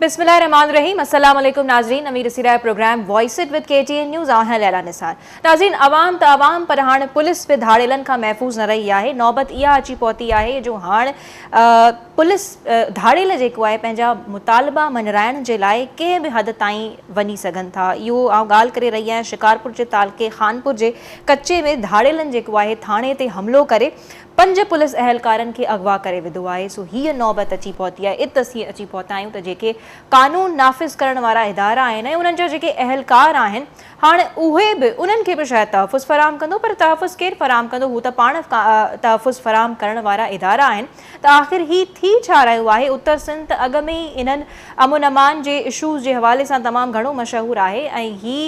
بسم الله الرحمٰن الرحيم السلام عليڪم ناظرين اوهين ڏسي رهيا آهيو programme voice at with K T N news آهيان ليلا نثار ناظرين عوام ته عوام پر هاڻ پوليس به ڌاڙيلن کان محفوظ نه رهي آهي نوبت اها اچي پهتي آهي جو هاڻ پوليس ڌاڙيل جيڪو آهي پنهنجا مطالبا مڃرائڻ جي لاء ڪنهن به حد تائين وڃي سگهن ٿا اهو آئون ڳالهه ڪري رهي آهيان شڪارپور جي تعلقي خانپور جي ڪچي ۾ ڌاڙيلن جيڪو آهي ٿاڻي تي حملو ڪري پنج پوليس اهلڪارن کي اغوا ڪري وڌو آهي سو هيء نوبت اچي پهتي آهي ات اسين اچي پهتا آهيون ته جيڪي قانون نافذ ڪرڻ وارا ادارا آهن ۽ انهن جا جيڪي اهلڪار آهن هاڻ اهي به انهن کي به شايد تحفظ فراهم ڪندو پر تحفظ ڪير فراهم ڪندو هو ته پاڻ تحفظ فراهم ڪرڻ وارا ادارا آهن ته آخر هي ٿي ڇا رهيو آهي اتر سنڌ ته اڳ ۾ ئي انهن امن امان جي اشوز جي حوالي سان تمام گهڻو مشهور آهي ۽ هي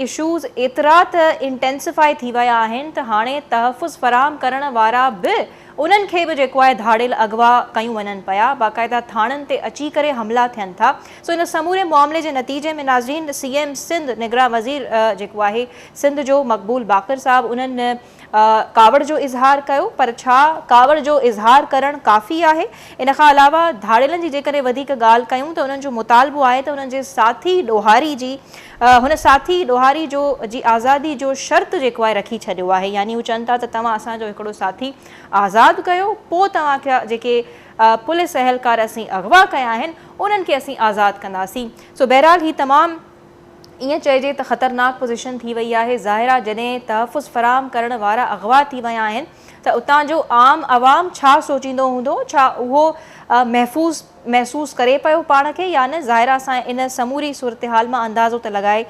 اشوز ايترا ته انٽينسفائي ٿي ويا آهن ته هاڻي تحفظ فراهم ڪرڻ وارا به انهن کي به جيڪو آهي ڌاڙيل اغوا ڪيون وڃن پيا باقاعده ٿاڻن تي اچي ڪري حملا ٿين ٿا سو ان سموري معاملي جي نتيجي ۾ ناظرين سي ايم سنڌ نگران وزير جيڪو آهي سنڌ جو مقبول باقر صاحب انهن ڪاوڙ جو اظهار ڪيو پر ڇا ڪاوڙ جو اظهار ڪرڻ ڪافي آهي؟ ان کان علاوه ڌاڙيلن جي جيڪڏهن وڌيڪ ڳالهه ڪيون ته انهن جو مطالبو آهي ته انهن جي ساٿي ڏوهاري جي هن ساٿي ڏوهاري جو جي آزادي جو شرط جيڪو آهي رکي ڇڏيو آهي يعني هو چون ٿا ته توهان اسان جو هڪڙو ساٿي آزاد ڪيو پو توهان کي جيڪي پوليس اهلڪار اسين اغوا ڪيا آهن انهن کي اسين آزاد ڪنداسين سو بهرحال هي تمام ائين چئجي ته خطرناڪ پوزيشن ٿي وئي آهي، ظاهر آ جڏهن تحفظ فراهم ڪرڻ وارا اغوا ٿي ويا آهن ته اتان جو عام عوام ڇا سوچيندو هوندو، ڇا اهو محفوظ محسوس ڪري پيو پاڻ کي يا نه، ظاهر آ اسان ان سموري صورتحال مان اندازو ته لڳائي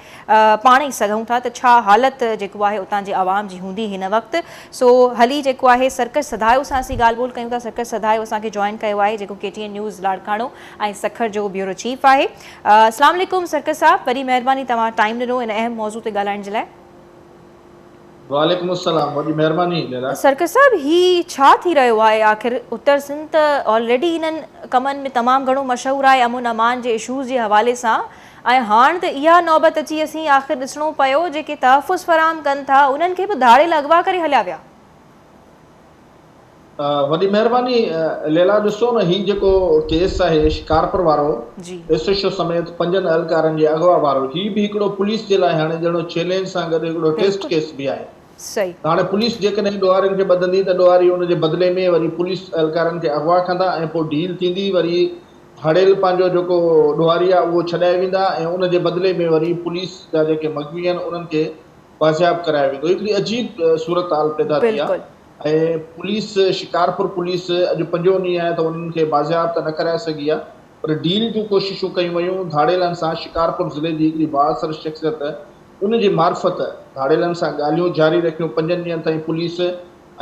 پاڻ ئي سگهون ٿا ته ڇا حالت جيڪو آهي اتان جي عوام جي هوندي هن وقت، سو هلي جيڪو آهي سرڪش سڌايو سان اسين ڳالهه ٻولهه ڪيون ٿا، سرڪش سڌايو اسان کي جوائن ڪيو آهي جيڪو K T N news Larkana ۽ Sukkur جو بيورو چيف آهي. اسلام عليڪم سرڪس صاحب وڏي مهرباني توهان ٽائيم ڏنو ان اهم موضوع تي ڳالهائڻ جي لاء. وعليڪم السلام وڏي مهرباني ليلا. سرڪس صاحب هي ڇا ٿي رهيو آهي آخر اتر سنڌ ته آلريڊي انهن ڪمن ۾ تمام گهڻو مشهور آهي امن امان جي اشوز جي حوالي سان ۽ هاڻ ته اها نوبت اچي اسين آخر ڏسڻو پيو جيڪي تحفظ فراهم ڪن ٿا انهن کي به ڌاڙيل اغوا ڪري هليا ويا وڏي مهرباني ليلا ڏسو نه هي جيڪو ڪيس آهي شڪارپور وارو ايس ايڇ او سميت پنجن اهلڪارن جي اغوا وارو هي به هڪڙو پوليس جي لاء هاڻي جهڙو چيلينج سان گڏ هڪڙو ٽيسٽ ڪيس به آهي ته هاڻي پوليس جيڪڏهن ڏوهارين کي ٻڌندي ته ڏوهاري ان جي بدلي ۾ وري پوليس اهلڪارن کي اغوا ڪندا ۽ پوء ڊيل ٿيندي وري هڙيل پنهنجو جيڪو ڏوهاري آهي اهو ڇڏائي ويندا ۽ ان جي بدلي ۾ وري پوليس جا جيڪي مغوي آهن انهن کي بازياب ڪرايو ويندو هڪڙي عجيب صورتحال پيدا ٿي آهي ۽ پوليس شڪارپور پوليس اڄ پنجون ڏينهن آهي ته انهن کي بازياب ته نه ڪرائي سگهي آهي پر ڊيل جون ڪوششون ڪيون ويون ڌاڙيلن سان شڪارپور ضلعي جي هڪڙي بااثر شخصيت ان جي معرفت ڌاڙيلن سان ڳالهيون جاري رکيون پنجن ڏينهن تائين پوليس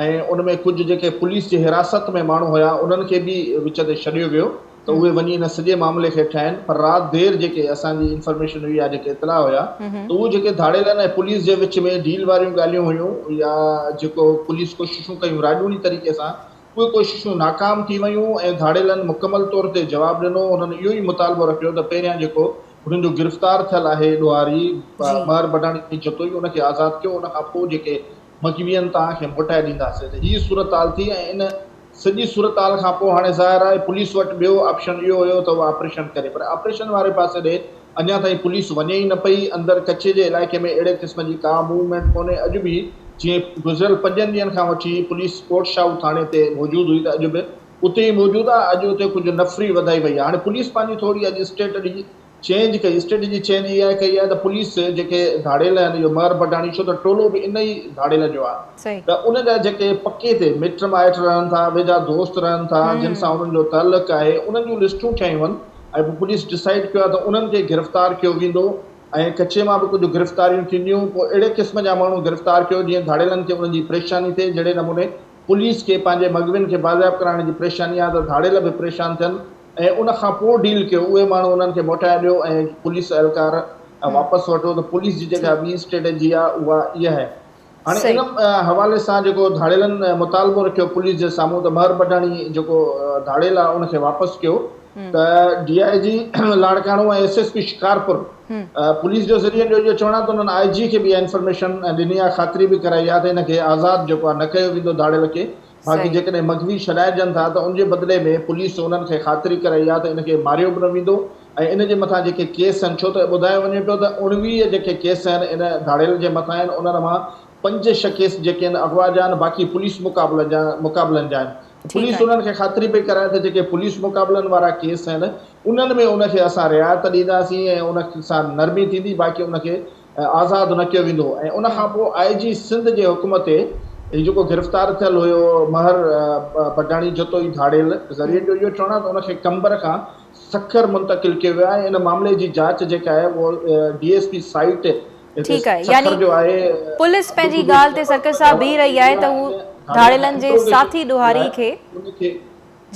۽ ان ۾ ڪجهه جيڪي پوليس جي حراست ۾ ماڻهو هيا انهن کي به وچ تي ڇڏيو ويو ته اهي وڃي ان سڄي معاملي کي ٺاهين پر رات دير جيڪي اسان جي انفارميشن هئي يا جيڪي اطلاع هيا ته اهو جيڪي ڌاڙيلن ۽ پوليس جي وچ ۾ ڊيل واريون ڳالهيون هيون يا جيڪو پوليس ڪوششون ڪيون راڄوڻي طريقي سان اهي ڪوششون ناڪام ٿي ويون ۽ ڌاڙيلن مڪمل طور تي جواب ڏنو انهن اهو ئي مطالبو رکيو ته پهريان جيڪو هنن جو گرفتار ٿيل آهي ڏوهاري مهر بڊاڻي جتوئي ان کي آزاد ڪيو ان کان پوء جيڪي مجبياً توهان کي موٽائي ڏينداسين ته هي صورتحال ٿي ۽ ان سڄي صورتحال کان پوء هاڻي ظاهر آهي پوليس وٽ ٻيو آپشن اهو هيو ته هو آپريشن ڪري پر آپريشن واري پاسي ڏي اڃا تائين پوليس وڃي ئي نه پئي اندر ڪڇي جي علائقي ۾ اهڙي قسم جي ڪا موومينٽ ڪونهي اڄ به جي گذريل پنجن ڏينهن کان وٺي پوليس ڪوٽ شاهو ٿاڻي تي موجود هئي ته اڄ به اتي ئي موجود آهي اڄ اتي ڪجهه نفري وڌائي وئي آهي هاڻي پوليس پنهنجي ٿوري اڄ اسٽيٽ ڏجي چينج ڪئي، اسٽريٽجي چينج اها ئي ڪئي آهي ته پوليس جيڪي ڌاڙيل آهن اهو مهر بڊاڻي ڇو ته ٽولو به ان ئي ڌاڙيلن جو آهي ته ان جا جيڪي پڪي تي مٽ مائٽ رهن ٿا ويجها دوست رهن ٿا جن سان انهن جو تعلق آهي انهن جون لسٽون ٺهيون ويون ۽ پوء پوليس ڊسائيڊ ڪيو آهي ته انهن کي گرفتار ڪيو ويندو ۽ ڪچي مان به ڪجهه گرفتاريون ٿينديون پوء اهڙي قسم جا ماڻهو گرفتار ڪيو جيئن ڌاڙيلن کي انهن جي پريشاني ٿئي جهڙي نموني پوليس کي پنهنجي مغوين کي بازياب ڪرائڻ جي پريشاني آهي ته ڌاڙيل به پريشان ٿين ۽ ان کان پوء ڊيل ڪيو اهي ماڻهو انهن کي موٽائي ڏيو ۽ پوليس اهلڪار واپس وٺو ته پوليس جي جيڪا ٻي اسٽريٽجي آ اها اها آهي هاڻي ان حوالي سان جيڪو ڌاڙيلن مطالبو رکيو پوليس جي سامهون ته مهر پٺاڻي جيڪو ڌاڙيل آ ان کي واپس ڪيو ته D I G Larkana ۽ S S P Shikarpur police جو ذريعن جو اهو چوڻ آ ته انهن آء جي کي به اها انفارميشن ڏني آ خاطري به ڪرائي آ ته ان کي آزاد جيڪو آ نه ڪيو ويندو ڌاڙيل کي باقي صحيح جيڪڏهن مغوي ڇڏائجن ٿا ته ان جي بدلي ۾ پوليس انهن کي خاطري ڪرائي آهي ته ان کي ماريو به نه ويندو ۽ ان جي مٿان جيڪي ڪيس آهن ڇو ته ٻڌايو وڃي پيو ته اوڻويهه جيڪي ڪيس آهن ان ڌاڙيل جي مٿان آهن انهن مان پنج ڇهه ڪيس جيڪي آهن اغوا جا آهن باقي پوليس مقابلن جا مقابلن جا آهن ٺيڪ پوليس آهي انهن کي خاطري پئي ڪرائي ته جيڪي پوليس مقابلن وارا ڪيس آهن انهن ۾ ان کي اسان رعايت ڏينداسين ۽ ان سان نرمي ٿيندي باقي ان کي ۽ آزاد نه ڪيو ويندو ۽ ان کان پوء آء جي سنڌ جي حڪم تي هي جيڪو گرفتار ٿيل هيو مهر بڊاڻي جتوئي ڌاڙيل ذريعن جو اهو چوڻ آهي ته ان کي قمبر کان سکر منتقل ڪيو ويو آهي ۽ ان معاملي جي جاچ جيڪا آهي اهو ڊي ايس پي سائيٽ هتي سکر جو آهي پوليس پنهنجي ڳالهه تي سرڪس صاحب بيهي رهي آهي ته هو ڌاڙيلن جي ساٿي ڏوهاري کي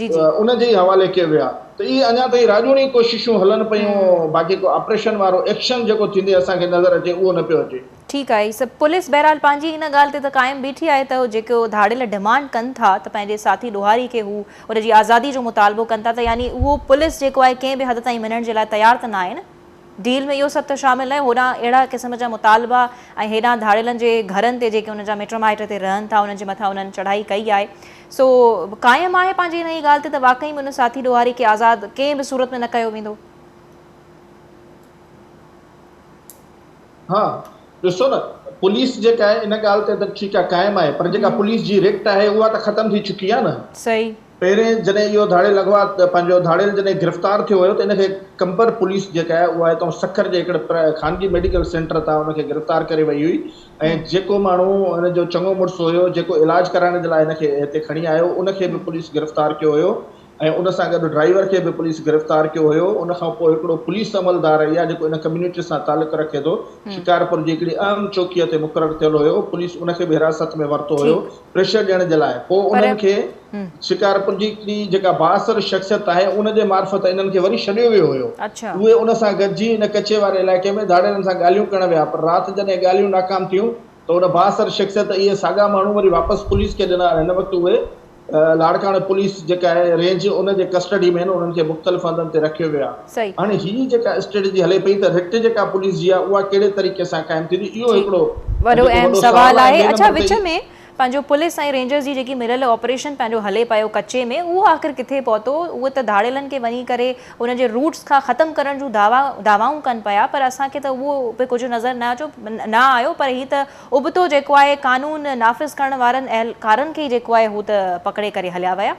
جي جي. ان جي ئي حوالي ڪيو ويو آهي ته اهي اڃا تائين راڄوڻي ڪوششون هلن پيون باقي ڪو آپريشن وارو ايڪشن جيڪو ٿيندي اسان کي نظر اچي اهو نه پيو اچي. ٺيڪ آهي هي سڀ پوليس بهرحال پنهنجي ان ڳالهه تي ته قائم بيٺي آهي ته جيڪو ڌاڙيل ڊمانڊ ڪن ٿا ته پنهنجي ساٿي ڏوهاري کي هو ان جي آزادي جو مطالبو ڪن ٿا ته يعني اهو پوليس جيڪو آهي ڪنهن به حد تائين مڃڻ جي لاء تيار ته ناهي نه. ڊيل ۾ اهو سڀ ته شامل ناهي، هوڏانهن اهڙا قسم جا مطالبا ۽ هيڏانهن ڌاڙيلن جي گهرن تي جيڪي انهن جا مٽ مائٽ اتي رهن ٿا انهن جي مٿان انهن چڙهائي ڪئي آهي سو قائم آهي پنهنجي انهيء ڳالهه تي ته واقعي ۾ ان ساٿي ڏوهاري کي آزاد ڪنهن به صورت ۾ نه ڪيو ويندو. ها ڏسو نه پوليس جيڪا آهي ان ڳالهه تي ته ٺيڪ آهي قائم آهي پر جيڪا پوليس جي رڪٽ آهي اها ته ختم ٿي چڪي آهي نه. صحيح. پهرين جڏهن اهو ڌاڙيل اغوا پنهنجو ڌاڙيل جڏهن گرفتار ٿيو ويو ته ان کي قمبر پوليس جيڪا آهي اها هتان سکر جي هڪڙي خانگي ميڊيڪل سينٽر تان ان کي گرفتار ڪري وئي هئي ۽ جيڪو ماڻهو ان جو چڱو مڙس هيو جيڪو علاج ڪرائڻ جي لاء هن کي هتي کڻي آيو ان کي به پوليس گرفتار ڪيو هيو ۽ ان سان گڏ ڊرائيور کي به پوليس گرفتار ڪيو هيو ان کان پوء هڪڙو پوليس عملدار اهي آهي جيڪو ان ڪميونٽي سان تعلق رکي ٿو شڪارپور جي هڪڙي اهم چوڪيء تي مقرر ٿيل هيو پوليس ان کي به حراست ۾ ورتو هيو پريشر ڏيڻ جي لاء پوء پر انهن کي هم. شڪارپور جي هڪڙي جيڪا بااثر شخصيت آهي ان جي معرفت انهن کي وري ڇڏيو ويو هيو اڇا. اهي ان سان گڏجي ان ڪچي واري علائقي ۾ ڌاڙيلن سان ڳالهيون ڪرڻ ويا پر رات جڏهن ڳالهيون ناڪام ٿيون ته ان بااثر شخصيت اهي ساڳا ماڻهو وري واپس پوليس کي ڏنا هن وقت اهي لاڙڪاڻي پوليس جيڪا آهي رينج ان جي ڪسٽڊي ۾ آهن انهن کي مختلف هنڌن تي رکيو ويو آهي. صحيح هاڻي هي جيڪا اسٽريٽجي هلي پئي ته رٽ جيڪا پوليس جي آهي اها ڪهڙي طريقي سان قائم ٿيندي اهو جي هڪڙو وڏو جيڪو اهم وڏو سوال آهي مين اڇا نمبر تي وچ ۾ پنهنجو پوليس ۽ رينجرز جي جيڪي مريل آپريشن پنهنجو هلي پيو ڪچي ۾ اهو آخر ڪٿي پهتو اهو ته ڌاڙيلن کي وڃي ڪري انهن جي روٽس کان ختم ڪرڻ جون دعوا دعوائون ڪن پيا پر اسان کي ته اهو به ڪجهه نظر نه اچو نه آيو پر هي ته ابتو جيڪو آهي قانون نافذ ڪرڻ وارن اهلڪارن کي ئي جيڪو آهي هو ته پڪڙي ڪري هليا ويا.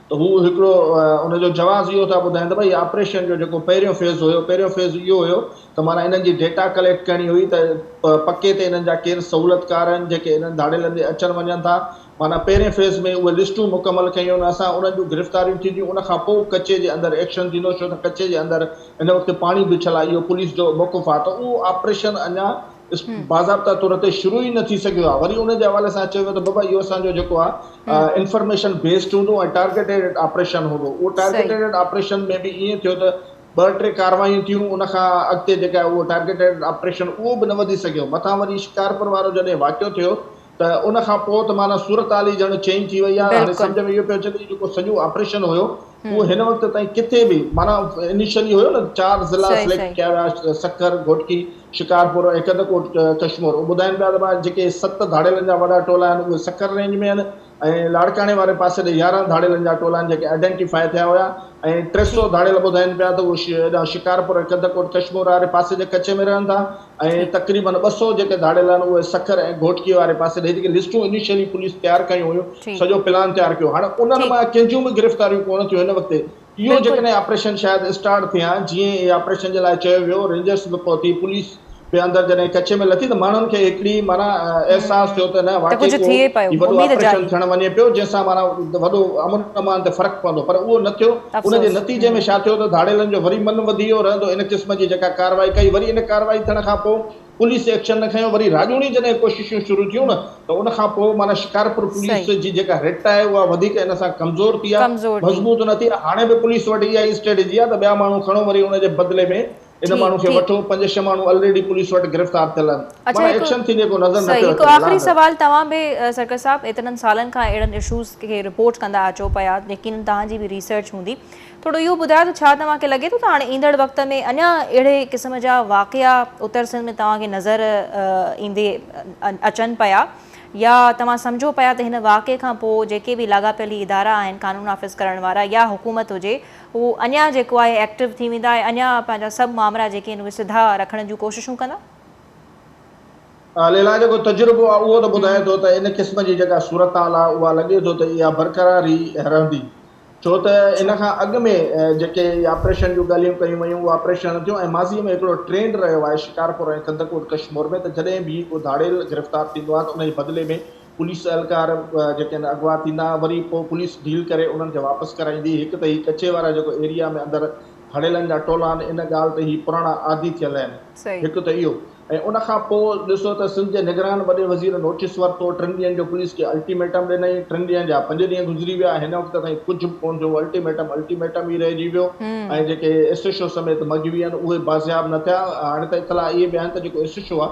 ته هو هڪڙو ان جو جواز اهو ٿا ٻڌائين ته ڀئي آپريشن جو جيڪو پهريون فيز هيو پهريون فيز اهو هيو ته معنيٰ انهن جي ڊيٽا ڪليڪٽ ڪرڻي هئي ته پڪي تي انهن جا ڪير سهولتڪار آهن جيڪي انهن ڌاڙيلن ڏي اچن وڃن ٿا معنيٰ پهرين فيز ۾ اهي لسٽون مڪمل ڪيون اسان انهن جون گرفتاريون ٿينديون ان کان پوء ڪچي جي اندر ايڪشن ٿيندو ڇو ته ڪچي جي اندر هن وقت پاڻي بڇل آهي اهو پوليس جو موقف آهي ته اهو آپريشن اڃا اسڪول باضابطا طور تي شروع ئي نه ٿي سگهيو آهي وري ان جي حوالي سان چيو ويو ته بابا اهو اسان جو جيڪو آهي انفارميشن بيسڊ هوندو ۽ ٽارگيٽيڊ آپريشن هوندو اهو ٽارگيٽيڊ آپريشن ۾ به ائين ٿيو ته ٻه ٽي ڪاروايون ٿيون ان کان اڳتي جيڪا اهو ٽارگيٽيڊ آپريشن اهو به نه وڌي سگهيو مٿان وري شڪارپور وارو جڏهن واقعو ٿيو ته ان کان پوء ته معنيٰ صورتحال ئي ڄڻ چينج ٿي وئي آهي. هاڻي سمجهه ۾ اهو پيو اچي ته هي جيڪو سڄو آپريشن هيو اهو هن وقت تائين ڪٿي به معنيٰ انيشلي هيو نه چار ضلعا سليڪٽ ڪيا ويا سکر، گهوٽڪي، شڪارپور ۽ ڪڌڪوٽ ڪشمور اهو ٻڌائين پيا ته ڀاء جيڪي ست ڌاڙيلن جا وڏا ٽولا آهن اهي سکر رينج ۾ آهن ۽ لاڙڪاڻي واري پاسي ڏي يارهن ڌاڙيلن جا ٽولا آهن جيڪي آئيڊينٽيفاء ٿيا هيا ۽ ٽي سؤ ڌاڙيل ٻڌائين پيا ته اهي شڪارپور ۽ ڪڌڪوٽ ڪشمور واري پاسي جي ڪچي ۾ رهن ٿا ۽ تقريبن ٻه سؤ جيڪي ڌاڙيل آهن اهي سکر ۽ گهوٽڪي واري پاسي ڏي جيڪي لسٽون انيشلي پوليس تيار ڪيون هيون سڄو پلان تيار ڪيو هاڻ انهن مان ڪنهن جون به گرفتاريون ڪونه ٿيون هن وقت اهو جيڪڏهن آپريشن شايد اسٽارٽ ٿئي ها جيئن اهي آپريشن جي لاء چيو ويو رينجرس به پهتي پوليس به اندر جڏهن ڪچي ۾ لٿي ته ماڻهن کي هڪڙي معنيٰ احساس ٿيو ته نه واقعي ڪو هي وڏو آپريشن ٿيڻ وڃي پيو جنهن سان معنيٰ وڏو امن امان تي فرق پوندو پر اهو نه ٿيو ان جي افسوس نتيجي ۾ ڇا ٿيو ته ڌاڙيلن جو وري من وڌي ويو رهندو ان قسم جي جيڪا ڪارروائي ڪئي وري ان ڪارروائي ٿيڻ کان پوء پوليس ايڪشن نه کنيو وري راڄوڻي جڏهن ڪوششون شروع ٿيون نه ته ان کان پوء معنيٰ شڪارپور پوليس صحيح جي جيڪا رٽ آهي اها وڌيڪ ان سان ڪمزور ٿي آهي ڪمزور ٿي مضبوط نه ٿي آهي هاڻي به پوليس وٽ اها ئي اسٽريٽجي آهي ته ٻيا ماڻهو کڻو وري ان جي بدلي ۾ ان ٺيڪ ماڻهو کي ٺيڪ وٺو پنج ڇهه ماڻهو الريڊي پوليس وٽ گرفتار ٿيل آهن اڇا مانا هڪ ايڪشن ٿيندي ڪو نظر نه صحيح پيو هڪ اچي آخري ملازم سوال توهان به سرڪس صاحب ايترن سالن کان اهڙن اشوز کي رپورٽ ڪندا اچو پيا يقينن توهان جي به ريسرچ هوندي ٿورو اهو ٻڌايو ته ڇا توهان کي لڳي ٿو ته هاڻي ايندڙ وقت ۾ اڃا اهڙي قسم جا واقعا اتر سنڌ ۾ توهان کي نظر ايندي اچن پيا يا توهان سمجهو پيا ته هن واقعي کان پوء جيڪي به لاڳاپيل هي ادارا آهن قانون نافذ ڪرڻ وارا يا حڪومت هجي هو اڃا جيڪو آهي ايڪٽو ٿي ويندا ۽ اڃا پنهنجا سڀ مامرا جيڪي آهن اهي سڌا رکڻ جون ڪوششون ڪندا. ليلا جيڪو تجربو آهي اهو ته ٻڌائي ٿو ته ان قسم جي جيڪا صورتحال آهي اها لڳي ٿو ته اها برقرار ئي رهندي ڇو ته ان کان اڳ ۾ جيڪي اهي آپريشن جون ڳالهيون ڪيون ويون اهي آپريشن نه ٿيون ۽ ماضي ۾ هڪڙو ٽرينڊ رهيو آهي شڪارپور ۽ ڪنڌڪوٽ ڪشمور ۾ ته جڏهن به ڪو ڌاڙيل گرفتار ٿيندو آهي ته ان جي بدلي ۾ پوليس اهلڪار جيڪي آهن اغوا ٿيندا وري پوء پوليس ڊيل ڪري انهن کي واپس ڪرائيندي. هڪ ته هي ڪڇي وارا جيڪو ايريا ۾ اندر هڙيلن جا ٽولا آهن ان ڳالهه تي هي پراڻا عادي ٿيل آهن هڪ ته اهو ۽ ان کان پوء ڏسو ته سنڌ جي نگران وڏي وزير نوٽيس ورتو ٽن ڏينهن جو پوليس کي الٽيميٽم ڏنائين ٽن ڏينهن جا پنج ڏينهن گذري ويا هن وقت تائين ڪجهه به ڪونه ٿيو الٽيميٽم الٽيميٽم ئي رهجي ويو ۽ جيڪي ايس ايڇ او سميت مغوي آهن اهي بازياب نه ٿيا هاڻي ته اطلاع اهي به آهن ته جيڪو ايس ايڇ او آهي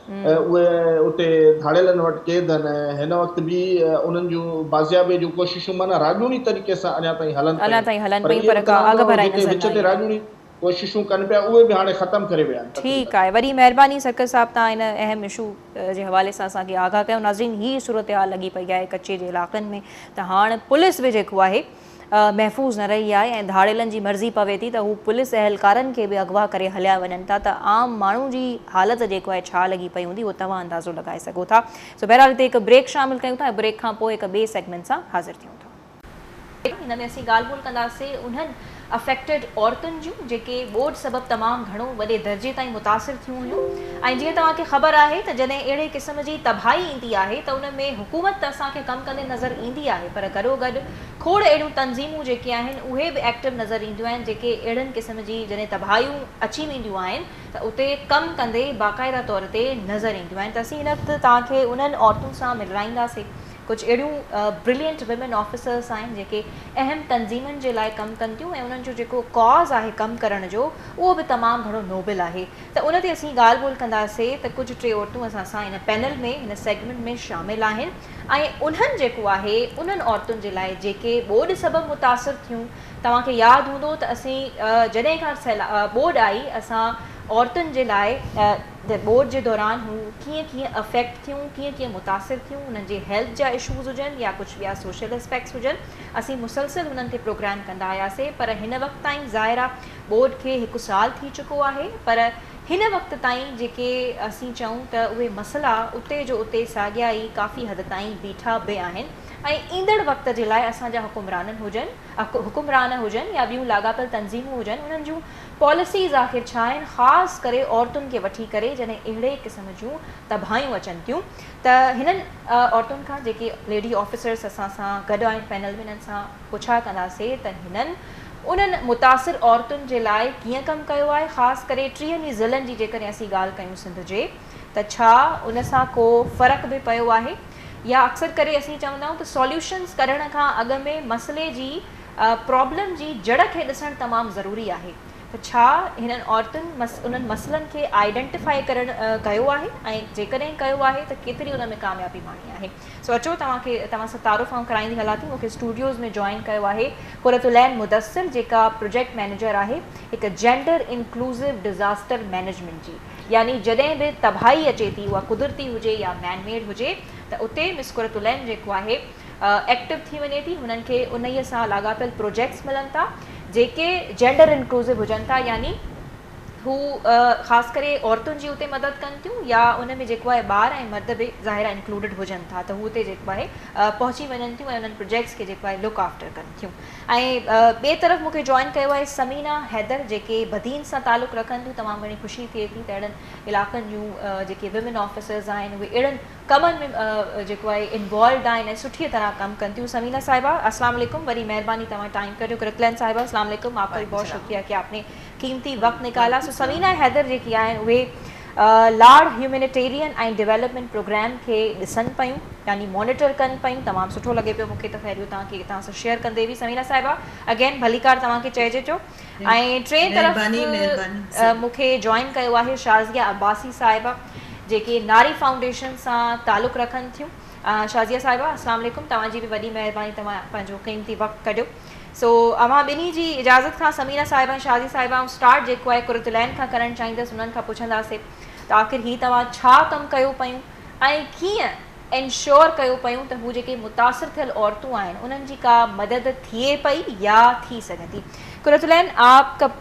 ۽ اهي اتي ڌاڙيلن وٽ قيد هن ۽ هن وقت به انهن جون بازيابيء جون ڪوششون معنيٰ راڄوڻي طريقي سان اڃا تائين هلن پيون پر اهي به ڪران ٿو جيڪي وچ تي راڄوڻي ڪوششون ڪن پيا اهي به هاڻي ختم ڪري ويا آهن تقريبن. ٺيڪ آهي وري مهرباني سرڪس صاحب تان ان اهم اشو جي حوالي سان اسان کي آگاهه ڪيو ناظرين هي صورتحال لڳي پئي آهي ڪچي جي علائقن ۾ ته هاڻ پوليس به جيڪو آهي محفوظ نه رهي آهي ۽ ڌاڙيلن جي مرضي پوي ٿي ته هو پوليس اهلڪارن کي به اغوا ڪري هليا وڃن ٿا ته عام ماڻهو جي حالت جيڪو آهي ڇا لڳي پئي هوندي اهو توهان اندازو لڳائي سگهو ٿا سو بهرحال هتي هڪ بريڪ شامل ڪيون ٿا ۽ بريڪ کان پوء هڪ ٻئي سيگمينٽ سان حاضر ٿيون ٿا. هن ۾ اسين ڳالهه ٻولهه ڪنداسين انهن افيڪٽيڊ عورتن جون جيڪي ٻوڏ سبب تمام گهڻو وڏي درجي تائين متاثر ٿيون هيون ۽ جيئن توهان کي خبر آهي ته جڏهن اهڙي قسم جي تباهي ايندي آهي ته ان ۾ حڪومت ته اسان کي ڪم ڪندي نظر ايندي آهي پر گڏوگڏ کوڙ اهڙيون تنظيمون جيڪي آهن اهي به ايڪٽو نظر اينديون آهن جيڪي اهڙن قسم جي جڏهن تباهيون اچي وينديون آهن ته اتي ڪم ڪندي باقاعده طور تي نظر اينديون آهن ته اسين هن وقت توهان کي انهن عورتن سان ملرائيندا سي ڪجهه اهڙيون برلينٽ ويمن آفيسرس آهن جيڪي اهم تنظيمن جي لاء ڪم ڪن ٿيون ۽ انهن جو جيڪو ڪاز آهي ڪم ڪرڻ جو اهو به تمام گهڻو نوبل آهي ته ان تي اسين ڳالهه ٻولهه ڪندا سي ته ڪجهه ٽي عورتون اسان سان ان پينل ۾ هن سيگمينٽ ۾ شامل آهن ۽ انهن جيڪو آهي انهن عورتن جي لاء جيڪي ٻوڏ سبب متاثر ٿيون توهان کي ياد هوندو ته اسين جڏهن کان ٻوڏ آئي اسان عورتن جي لاء ٻوڏ جي دوران هو ڪيئن ڪيئن افيڪٽ ٿيون ڪيئن ڪيئن متاثر ٿيون انهن جي هيلٿ جا اشوز هجن يا ڪجهه ٻيا سوشل اسپيڪس هجن اسين مسلسل انهن تي پروگرام ڪندا آياسي پر هن وقت تائين ظاهر آهي ٻوڏ کي هڪ سال ٿي چڪو آهي پر هن وقت تائين جيڪي اسين چئون ته اهي مسئلا اتي جو اتي ساڳيا ئي ڪافي حد تائين بيٺا به آهن ۽ ايندڙ وقت جي لاء اسان جا حڪمران هجن حڪمران هجن يا ٻيون لاڳاپيل تنظيمون هجن انهن جون پاليسيز آخر ڇا آهن خاص ڪري عورتن کي وٺي ڪري جڏهن اهڙي قسم جون تباهيون اچن ٿيون ته هنن عورتن کان جيڪي ليڊي آفيسرز اسان سان گڏ آهن پينل ۾ انهن سان پڇا ڪنداسين ته هنن انهن متاثر عورتن جي لاء ڪيئن ڪم ڪيو آهي خاص ڪري ٽيهن ئي ضلعن جي جيڪڏهن اسين ڳالهه ڪيون سنڌ جي ته ڇا ان سان ڪو فرق به پيو آهي يا اڪثر ڪري اسين چوندا آهيون ته سوليوشنز ڪڍڻ کان اڳ ۾ مسئلي جي پرابلم جي جڙ کي ڏسڻ تمام ضروري آهي ته ڇا هنن عورتن انهن مسئلن کي آئيڊنٽيفائي ڪرڻ ڪيو آهي ۽ جيڪڏهن ڪيو آهي ته ڪيتري ان ۾ ڪاميابي ماڻي آهي. سو اچو توهان کي توهان سان تعارف آئون ڪرائيندي هلان ٿي مون کي اسٽوڊيوز ۾ جوائن ڪيو آهي قرت العين مدثر جيڪا پروجيڪٽ مئنيجر آهي هڪ جينڊر انڪلوسو ڊزاسٽر مئنيجمينٽ جي يعني جڏهن به تباهي اچي ٿي اها قدرتي هجي يا مين ميڊ هجي ته اتي مس قرت العين جيڪو آهي ايڪٽو ٿي وڃي ٿي هنن کي انهي سان لاڳاپيل پروجيڪٽس ملن ٿا جيڪي جينڊر انڪلوسو هجن ٿا يعني هو خاص ڪري عورتن جي اتي مدد ڪن ٿيون يا ان ۾ جيڪو آهي ٻار ۽ مرد به ظاهر آهي انڪلوڊيڊ هجن ٿا ته هو اتي جيڪو آهي پهچي وڃن ٿيون ۽ انهن پروجيڪٽس کي جيڪو آهي لڪ آفٽر ڪن ٿيون ۽ ٻئي طرف مونکي جوائن ڪيو آهي سمينا حيدر جيڪي بدين سان تعلق رکن ٿيون تمام گهڻي خوشي ٿئي ٿي ته اهڙن علائقن جون جيڪي ويمن آفيسرز آهن اهي اهڙن ڪمن ۾ جيڪو آهي انوالوڊ آهن ۽ سٺي طرح ڪم ڪن ٿيون سمينا صاحبه السلام علیڪم وري مهرباني توهان ٽائم ڪڍيو ڪرتلين صاحبه السلام علیڪم آپ کا بي بہت شڪريه ڪي آپ ني قيمتي وقت نڪالا سو سمينا حيدر جيڪي آهن اهي لاڙ هيومينيٽيرين ۽ ڊيولپمينٽ پروگرام کي ڏسن پيون يعني مونيٽر ڪن پيون تمام سٺو لڳي پيو مونکي ته خير اهو توهان کي توهان سان شيئر ڪندي به سمينا صاحبه اگين ڀليڪار توهان کي چئجي ٿو ۽ ٽين طرف مونکي جوائن ڪيو آهي شازيا عباسي صاحبه جيڪي ناري فائونڊيشن سان تعلق رکن ٿيون شازيا صاحبه السلام عليڪم توهان جي به وڏي مهرباني توهان پنهنجو قيمتي وقت ڪڍيو سو اوهان ٻنهي جي اجازت کان ثمينه صاحبه ۽ شازي صاحبه آئون اسٽارٽ جيڪو آهي قرة العين کان ڪرڻ چاهيندس انهن کان پڇنداسي ته آخر هي توهان ڇا ڪم ڪيو پيون ۽ ڪيئن انشور ڪيو پيون ته هو جيڪي متاثر ٿيل عورتون آهن انهن جي ڪا مدد ٿئي پئي يا ٿي سگهندي قرة العين آپ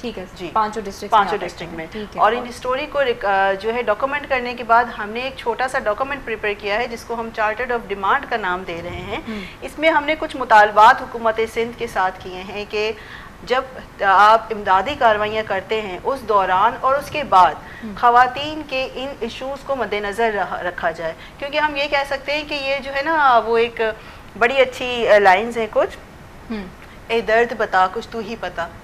ٹھيڪ ھي جي پانچو ڊسٽرڪس پانچو ڊسٽرڪس مي ٺيڪ ھي اور ان اسٽوري ڪو جو ھي ڊاڪومينٽ ڪرني ڪي بعد ھم ني ايڪ ڇوٽا سا ڊاڪومينٽ پريپيئر ڪيا ھي جس ڪو ھم چارٽرڊ آف ڊيمانڊ ڪا نام دي رھي ھي اس مي ھم ني ڪچھ مطالبات حڪومت سندھ ڪي ساتھ ڪيئي ھي ڪي جب آپ امدادي ڪاروائيان ڪرتي ھي اس دوران اور اس ڪي بعد خواتين ڪي ان اشوز ڪو مدي نظر رکا جائي ڪيو ڪي ھم يي ڪه سڪتي ھي ڪي يي جو ھي نا وو ايڪ بڙي اچھي لائنز ھي ڪچھ اي درد بتا ڪچھ تو ھي پتا.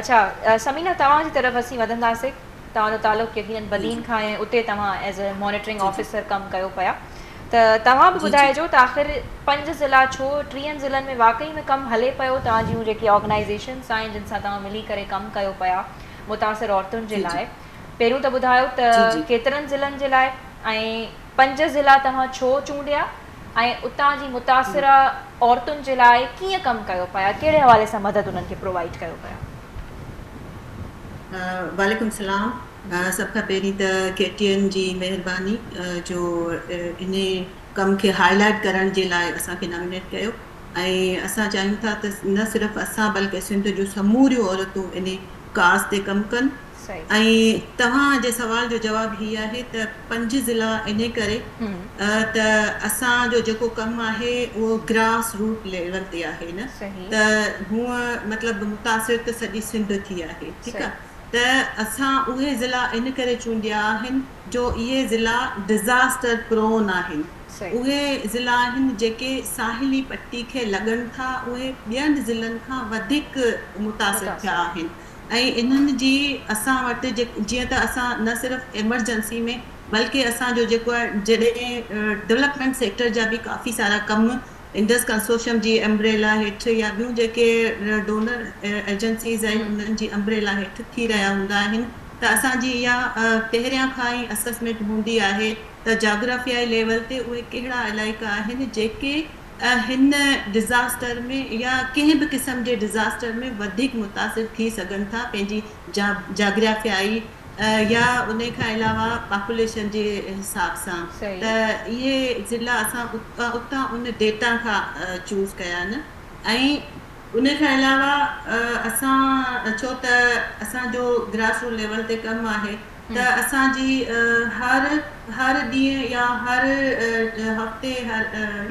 اڇا ثمينه توهان جي طرف اسين وڌنداسي توهان جو تعلق يقينن بدين کان آهي اتي توهان ايز اي مانيٽرنگ آفيسر ڪم ڪيو پيا ته توهان به ٻڌائجو ته آخر پنج ضلع ڇو ٽيهن ضلعن ۾ واقعي ۾ ڪم هلي پيو توهان جون جيڪي آرگنائيزيشنس آهن جن سان توهان ملي ڪري ڪم ڪيو پيا متاثر عورتن جي لاء پهريون ته ٻڌايو ته ڪيترن ضلعن جي لاء ۽ پنج ضلع توهان ڇو چونڊيا ۽ اتان جي متاثره عورتن جي لاء ڪيئن ڪم ڪيو پيا ڪهڙي حوالي سان مدد انهن کي پرووائيڊ ڪيو پيا. وعليڪم سلام سڀ کان پهرين ته ڪي ٽي اين جي مهرباني جو ان ڪم کي هائي لائيٽ ڪرڻ جي لاء اسان کي نامينيٽ ڪيو ۽ اسان چاهيون ٿا ته نه صرف اسان بلڪه سنڌ جون سموريون عورتون ان ڪاز تي ڪم ڪن سائين. ۽ توهان جي سوال جو جواب هي آهي ته پنج ضلع انهي ڪري ته اسان جو جيڪو ڪم آهي اهو گراس روٽ ليول تي آهي نه ته هونء مطلب متاثر ته سڄي سنڌ ٿي آهي ٺيڪ آ ته اسان اهي ضلع ان ڪري چونڊيا آهن جو اهي ضلع ڊزاسٽر پرون آهن اهي ضلع آهن جيڪي ساحلي پٽي کي لڳن ٿا اهي ٻين ضلعن کان وڌيڪ متاثر ٿيا آهن. ۽ انهن جي اسان وٽ جيئن ته اسان نه صرف ايمرجنسي ۾ بلڪه اسان جو جيڪو آهي جڏهن ڊولپمينٽ سيڪٽر جا به ڪافي سارا ڪم انڊس ڪنسورشم جي امبريلا هيٺ يا ٻيون جيڪي ڊونر ايجنسيز آهن انهن جي امبريلا هيٺ ٿي رهيا هوندا آهن ته اسان جي اها پهريان کان ئي اسسمينٽ هوندي آهي ته جاگرافيائي ليول تي اهي ڪهڙا علائقا آهن جيڪي هن ڊزاسٽر ۾ يا ڪنهن به قسم جي ڊزاسٽر ۾ وڌيڪ متاثر ٿي سگهن ٿا پنهنجي جاگرافيائي يا انهي کان علاوه پاپوليشن جي حساب سان ته اهي ضلعا اسان اتان ان ڊيٽا کان چوز ڪيا آهن ۽ انهي کان علاوه اسان ڇو ته اسان جو گراس روٽ ليول تي ڪم آهي. ته اسان جي هر هر ڏينهن يا هر هفتي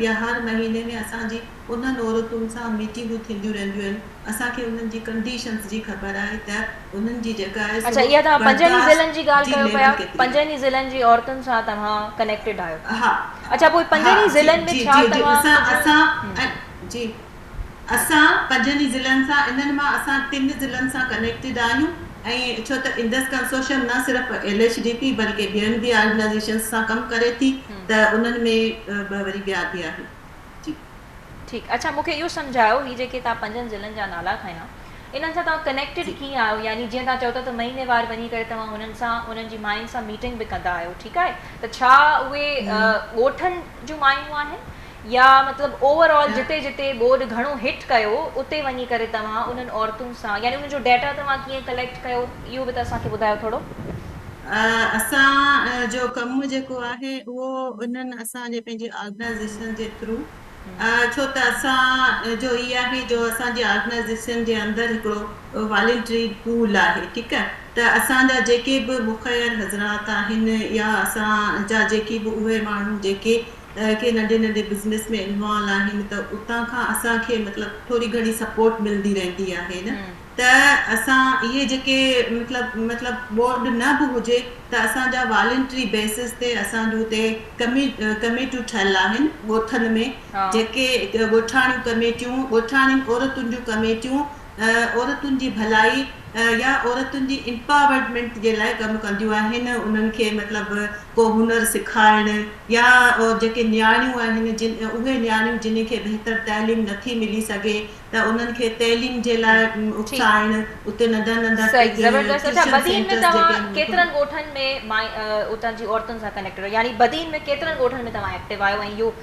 يا هر مهيني ۾ اسان جي انهن عورتن سان ميٽنگون ٿينديون رهنديون آهن اسان کي انهن جي ڪنڊيشنز جي خبر آهي ته انهن جي جيڪا آهي سو برداشت جي ليول ڪيتري آهي. اها تهان پنجن ئي ضلعن جي ڳالهه ڪيو پيا پنجن ئي ضلعن جي عورتن سان توهان ڪنيڪٽيڊ آهيو اها اڇا پوء پنجن ئي ضلعن ۾ ڇا توهان جي. اسان پنجن ئي ضلعن سان انهن مان اسان ٽن ضلعن سان ڪنيڪٽيڊ آهيون ۽ ڇو ته انڊس ڪنسورشم نه صرف ايل ايڇ ڊي پي بلڪه ٻين به آرگنائيزيشنز سان ڪم ڪري ٿي ته انهن ۾ ٻه وري ٻيا به آهن جي. ٺيڪ اڇا مون کي اهو سمجهايو هي جيڪي توهان پنجن ضلعن جا نالا کنيا انهن سان توهان ڪنيڪٽيڊ ڪيئن آهيو يعني جيئن توهان چئو ٿا ته مهيني وار وڃي ڪري توهان هنن سان انهن جي ماين سان ميٽنگ به ڪندا آهيو ٺيڪ آهي ته ڇا اهي ڳوٺن جون مايون آهن يا مطلب اوور آل جتي جتي ٻوڏ گهڻو هٽ ڪيو اتي وڃي ڪري توهان انهن عورتون سان يعني انهن جو ڊيٽا توهان ڪيئن ڪليڪٽ ڪيو اهو به ته اسان کي ٻڌايو ٿورو. اسان جو ڪم جيڪو آهي اهو انهن اسان جي پنهنجي آرگنائيزيشن جي ٿرو ڇو ته اسان جو هي آهي جو اسان جي آرگنائيزيشن جي اندر هڪڙو والنٽري پول آهي ٺيڪ آهي ته اسان جا جيڪي به مخير حضرات آهن يا اسان جا جيڪي به اهي ماڻهو جيڪي ڪي ننڍي ننڍي بزنس ۾ انوالو آهن ته اتان کان اسان کي مطلب ٿوري گهڻي سپورٽ ملدي رهندي آهي نه ته اسان اهي جيڪي مطلب مطلب بورڊ نه به هجي ته اسان جا والنٽري بيسز تي اسان جون هتي ڪميٽيون ٺهيل آهن ڳوٺن ۾ جيڪي ڳوٺاڻيون ڪميٽيون ڳوٺاڻين عورتن جون ڪميٽيون عورتن جي ڀلائي يا عورتن جي امپاورٽمينٽ جي لاء ڪم ڪنديون آهن انهن کي مطلب ڪو هنر سکارڻ يا جيڪي نياڻيون آهن جن اهي نياڻيون جنهن کي بهتر تعليم نٿي ملي سگهي ته انهن کي تعليم جي لاء اڪسائڻ اتي ننڍا ننڍا ٽيوشن سينٽرس جيڪي ڪيترن ڳوٺن ۾ اتان جي عورتن سان ڪنيڪٽ رهيو يعني بدين ۾ ڪيترن ڳوٺن ۾ توهان ايڪٽو آهيو ۽ اهو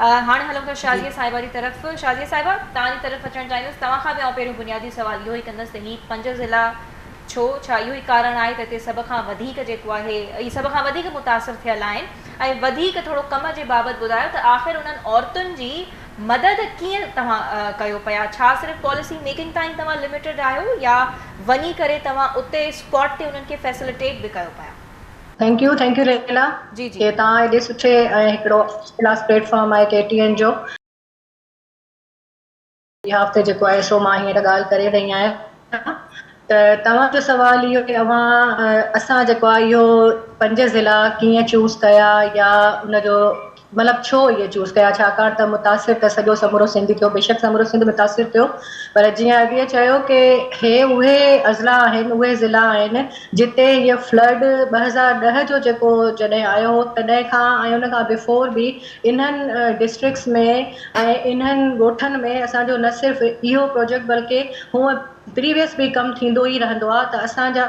هاڻي هلون ٿا شازيه صاحبه جي طرف. شازيه صاحبه توهان جي طرف اچڻ چاهيندس. توهان کان به آئون پهريون بنيادي سوال اهو ئي ڪندس ته هي پنج ضلعا ڇو؟ ڇا اهو ئي ڪارڻ آهي ته هتي سڀ کان وڌيڪ جيڪو آهي اهي سڀ کان وڌيڪ متاثر ٿيل آهن ۽ وڌيڪ ٿورو ڪم جي بابت ٻڌايو ته آخر انهن عورتن جي مدد ڪيئن توهان ڪيو پيا؟ ڇا صرف پاليسي ميڪنگ تائين توهان لميٽيڊ آهيو يا وڃي ڪري توهان اتي اسپاٽ تي انهن کي فيسلٽيٽ به ڪيو پيا؟ Thank you thank you Laila جي جي ڪي تان ايڏي سٺي ۽ هڪڙو ڪلاس پليٽ فارم آهي ڪي ٽي اين جو بيهاف تي جيڪو آهي سو مان هينئر ڳالهه ڪري رهي آهيان ته توهان جو سوال اهو ته اوهان اسان جيڪو آهي اهو پنج ضلعا ڪيئن چوز ڪيا يا ان جو مطلب ڇو اهي چوز ڪيا ڇاڪاڻ ته متاثر ته سڄو سمورو سنڌ ٿيو بيشڪ سمورو سنڌ متاثر ٿيو پر جيئن اڳي چيو ڪي هي اهي اضلاع آهن اهي ضلع آهن جتي هي فلڊ ٻه هزار ڏهه جو جيڪو جڏهن آيو هو تڏهن کان ۽ ان کان بيفور به انهن ڊسٽرڪس ۾ ۽ انهن ڳوٺن ۾ اسان جو نه صرف اهو پروجيڪٽ بلڪه هونء پريويس به ڪم ٿيندو ئي رهندو آهي ته اسان جا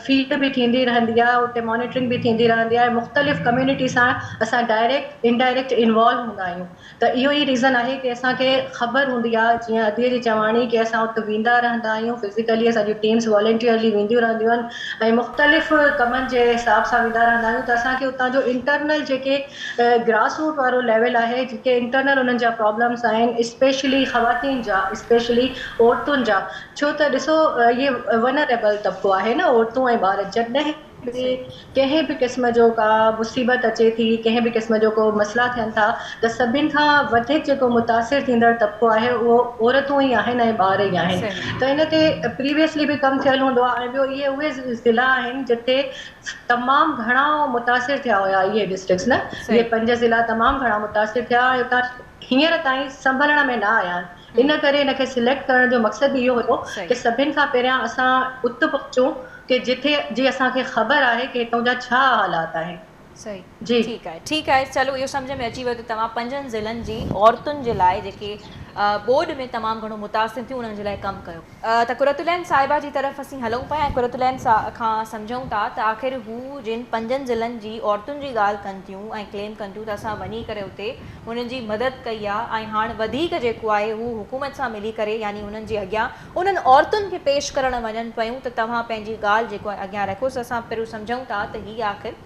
فيلڊ به ٿيندي رهندي آهي اتي مانيٽرنگ به ٿيندي رهندي آهي مختلف ڪميونٽي سان اسان ڊائريڪٽ ان ڊائريڪٽ انوالو هوندا آهيون ته اهو ئي ريزن آهي ڪي اسان کي خبر هوندي آهي جيئن ادي جي چواڻي ڪي اسان اتي ويندا رهندا آهيون فزيڪلي اسان جون ٽيمس والنٽيئرلي وينديون رهنديون آهن ۽ مختلف ڪمن جي حساب سان ويندا رهندا آهيون ته اسان کي اتان جو انٽرنل جيڪي گراس روٽ وارو ليول آهي جيڪي انٽرنل انهن جا پرابلمس آهن اسپيشلي خواتين جا اسپيشلي عورتن جا ڇو ته ڏسو اهي ونريبل طبقو آهي نه عورتون ۽ ٻار جڏهن به ڪنهن به قسم جو ڪا مصيبت اچي ٿي ڪنهن به قسم جو ڪو مسئلا ٿين ٿا ته سڀن کان وڌيڪ جيڪو متاثر ٿيندڙ طبقو آهي اهو عورتون ئي آهن ۽ ٻار ئي آهن ته ان تي پريويسلي به ڪم ٿيل هوندو آهي ۽ ٻيو اهي اهي ضلعا آهن جتي تمام گهڻا متاثر ٿيا هيا اهي ڊسٽرڪس نه اهي پنج ضلعا تمام گهڻا متاثر ٿيا ۽ اتان هينئر تائين سنڀلڻ ۾ نه آيا آهن ان ڪري ان کي سليڪٽ ڪرڻ جو مقصد به اهو هيو ڪي سڀن کان پهريان اسان ات پهچون ڪي جتي جي اسان کي خبر آهي ڪي هتون جا ڇا حالات آهن. صحيح ٺيڪ آهي ٺيڪ آهي چلو اهو سمجهه ۾ اچي ويو ته توهان پنجن ضلعن جي عورتن جي لاء جيڪي ٻوڏ ۾ تمام گهڻو متاثر ٿيون انهن جي لاء ڪم ڪيو. ته قرة العين صاحبه جي طرف اسين هلون پيا ۽ قرة العين کان سمجهون ٿا ته آخر هو جن پنجن ضلعن جي عورتن جي ڳالهه ڪن ٿيون ۽ ڪليم ڪن ٿيون ته اسان وڃي ڪري اتي انهن جي مدد ڪئي آ ۽ هاڻ وڌيڪ جيڪو آهي هو حڪومت سان ملي ڪري يعني انهن جي اڳيان انهن عورتن کي پيش ڪرڻ وڃن پيون ته توهان پنهنجي ڳالهه جيڪو آهي اڳيان رکيوس اسان پرو سمجهون ٿا ته هي آخر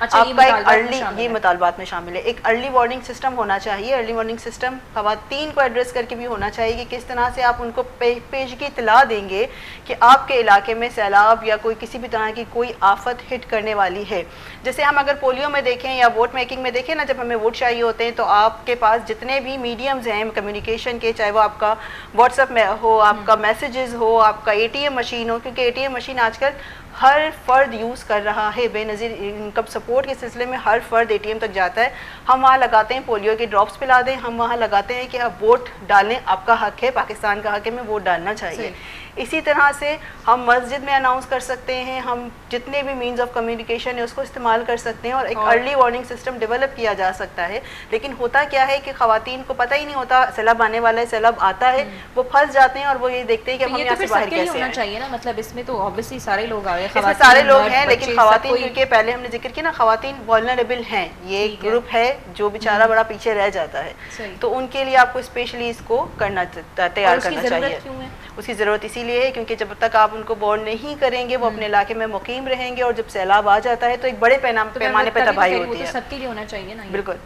آپ کا ايڪ ارلي يي مطالبات مين شامل هي ايڪ ارلي وارننگ سسٽم هونا چاهيي ارلي وارننگ سسٽم خواتين ڪو ايڊريس ڪرڪي بي هونا چاهيي ڪي ڪس طرح سي آپ انڪو پيشگي اطلاع دين گي ڪي آپ ڪي علاقي مين سيلاب يا ڪوئي ڪسي بي طرح ڪي ڪوئي آفت هٽ ڪرني والي هي جسي هم اگر پوليو مين ديکين يا ووٽ ميڪنگ مين ديکين نا جب همين ووٽ چاهيي هوتي هين تو آپ ڪي پاس جتني بي ميڊيمز هين ڪميونيڪيشن ڪي چاهي وو آپ ڪا واٽس اپ هو آپ ڪا ميسجز هو آپ ڪا اي ٽي ايم مشين هو ڪيونڪه اي ٽي ايم مشين آج ڪل هر فرد يوز ڪر رها هي بينظير انڪم سپورٽ ڪي سلسلي مين هر فرد اي ٽي ايم تڪ جاتا هي هم وهان لگاتي هي پوليو ڪي ڊراپس پلا دين هم وهان لگاتي هي ڪي اب ووٽ ڊالني آپ ڪا حق هي پاڪستان ڪا حق هي مين ووٽ ڊالنا چاهيي اسي طرح سي هم مسجد مين اناونس ڪر سڪتي هي هم جتني بي مينز آف ڪميونيڪيشن هي اسڪو استعمال ڪر سڪتي هي اور ايڪ ارلي وارننگ سسٽم ڊيولپ ڪيا جا سڪتا هي ليڪن هوتا ڪيا هي ڪي خواتين ڪو پتا هي نهي هوتا سيلاب آني والا هي سيلاب آتا هي وو ڦس جاتي هين اور وو يهي ديکتي هين ڪي اب هم يهان سي باهر ڪيسي آئين. اسمي ساري لوگ هين ليڪن خواتين ڪيونڪه پهلي همني ذڪر ڪيا نا خواتين Vulnerable هين يه ايڪ گروپ هي جو بيچارا بڙا پيڇي رهه جاتا هي تو ان ڪي ليي آپڪو اسپيشلي اسڪو ڪرنا تيار ڪرنا چاهيي اسڪي ضرورت اسي ليي هي ڪيونڪه جب تڪ آپ انڪو بورن نهي ڪرين گي وو اپني علاقي مي مقيم رهين گي اور جب سيلاب آ جاتا هي تو ايڪ بڙي پيماني پي تباهي هوتي هي.